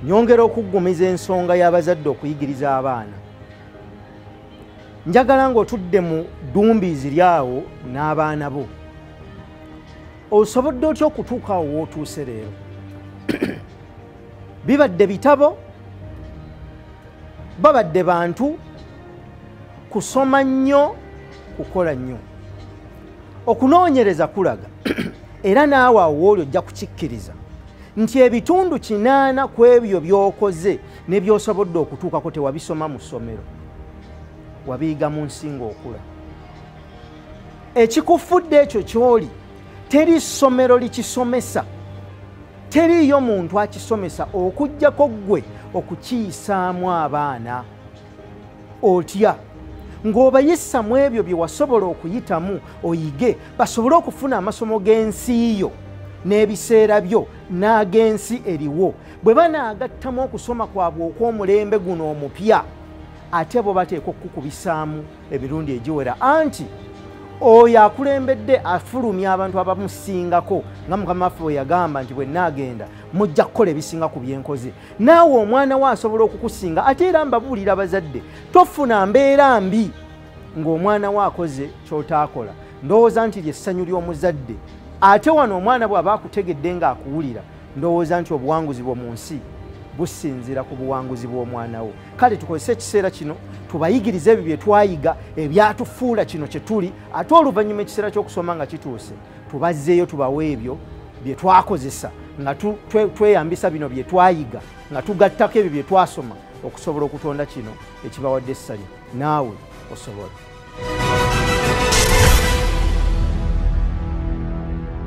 nyongera okuggumiza ensonga y'abazadde okuyigiriza abaana njagala ng'otudde mu ddumbiizi lyawo n'abaana bo osobodde otya okutuuka awo wootuuse leero bibadde bitabo babadde bantu kusoma nnyo kukola nnyo okunoonyereza kulaga era naawe awooli ojja kukikkiriza nti ebitundu kinaana ku ebyo by'okoze ne by'osobodde okutuukako tewabisoma mu ssomero wabiyiga mu nsi ng'okula ekikufudde ekyo ky'oli teri ssomero likisomesa teriiyo muntu akisomesa okujjako ggwe okukiyisaamu abaana otya ng'obayisa mu ebyo bye wasobola okuyitamu oyige basobole okufuna amasomo g'ensi yo n'ebiseera byo n'ag'ensi eriwo bwe banaagattamu okusoma kwabwe okw'omulembe guno omupya ate bo bateekwa okukukubisaamu emirundi egiwera anti oyo akulembedde afulumya abantu abamusingako nga mukama waffe bwe yagamba nti bwenaagenda mujja kukola ebisinga ku byenkoze naawe omwana we asobola okukusinga ate era mbabuulira abazadde tofuna mbeera mbi ng'omwana we akoze kyotaakola ndowooza nti lyessanyu ly'omuzadde ate wano omwana bw'aba akutegedde ng'akuwulira ndowooza nti obuwanguzi bwo mu nsi businziira ku buwanguzi bw'omwana wo kale tukozese ekiseera kino tubayigirize ebyo bye twayiga ebyatufuula kino kye tuli ate oluvannyuma ekiseera ky'okusoma nga kituuse tubazzeeyo tubawe ebyo bye twakozesa nga tweyambisa bino bye twayiga nga tugattako ebyo bye twasoma okusobola okutonda kino ekibawadde essanyu naawe osobola